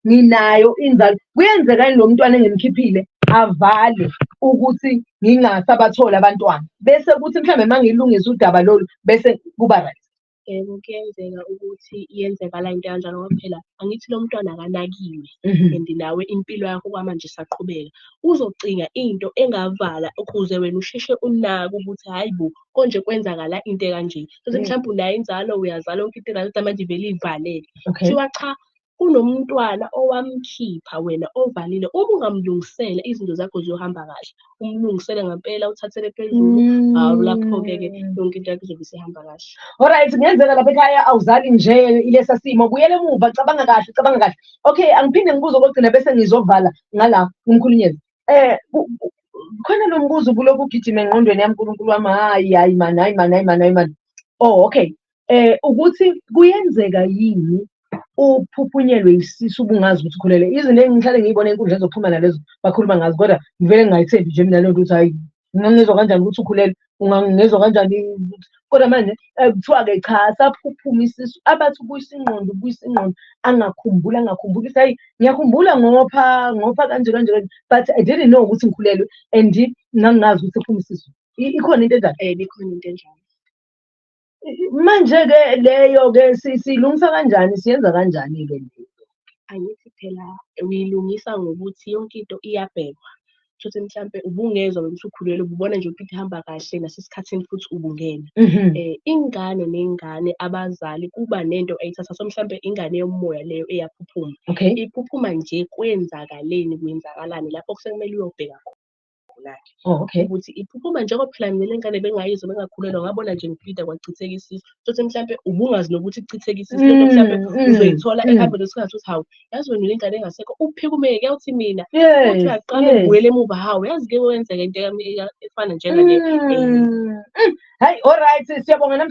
nginayo inzalo kuyenzekani lo mntwana engimkhiphile avale ukuthi ngingasabatholi abantwana bese kuthi mhlawumbe uma ngilungisa udaba lolu bese kuba right yebo kuyenzeka ukuthi iyenzekala into kanjalo ngoba phela angithi lo mntwana akanakiwe mhm. and nawe impilo yakho kwamanje isaqhubeka uzocinga into engavala ukuze wena usheshe unake ukuthi hhayi bo konje kwenzakala into ekanje sothi mhlawumbe unayo inzalo uyazala yonke into right manje ivele ivalele kuthiwa cha kunomntwana owamkhipha wena ovalile uma ungamlungisela izinto zakho ziyohamba kahle umlungisele ngempela uthathele phezulu hawu lapho-ke ke mm. yonke into yakho izobe isihamba kahle olright kungenzeka lapha ekhaya awuzali nje ilesa simo buyele emuva cabanga kahle cabanga kahle okay angiphinde ngibuze okogcina bese ngizovala ngala umkhulunyezi eh khona lo mbuzo ubuloku ugijima engqondweni yami uNkulunkulu wami hayi hayi mani hayi mani hayi mani hayi mani oh okay eh ukuthi kuyenzeka yini uphuphunyelwe isisu ubungazi ukuthi ukhulele izinto engihlale ngiyibona enkundleni zokuxhumana lezo bakhuluma ngazo kodwa ngivele ngingayithembi nje mina leyo nto ukuthi hayi ngangizwa kanjani ukuthi ukhulelwe ungangizwa kanjani kodwa manje eh, kuthiwa-ke cha saphuphuma isisu abathi ubuyisa ingqondo ubuyisa ingqondo angakhumbuli angakhumbuli ukuthi hayi ngiyakhumbula ngopha ngopha kanje kanje kanje but i didn't know ukuthi ngikhulelwe and ngangingazi ukuthi ephuma isisu ikhona into enjalo um ikhona into enjalo manje-ke leyo-ke silungisa kanjani siyenza kanjani-ke leyo angithi phela uyilungisa ngokuthi yonke into iyabhekwa shuthi mhlampe ubungezwa wena usukhulelwe ububona nje ukuthi ihamba kahle nasesikhathini futhi ubungena um mhm. eh, ingane nengane abazali kuba nento eyithatha so mhlampe ingane yomoya leyo eyaphuphuma okay. iphuphuma nje kwenzakaleni kwenzakalani lapho kusekumele uyobheka khona iphupho lakhe oh, okay. ukuthi iphupho uma njengoba phela mina lengane bengayizwa bengakhulelwa ngabona nje ngipita kwachitheka isisu sothi mhlawumbe ubungazi nokuthi kuchitheka isisu lento mm, mhlawumbe mm, uzoyithola mm. ehambeni kwesikhathi ukuthi hawu yazi wena lengane engasekho uphike umeke kuyawuthi mina uthi uyaqala ubuyele emuva hawu yazi ke wenzeka into efana njengale hayi all right siyabonga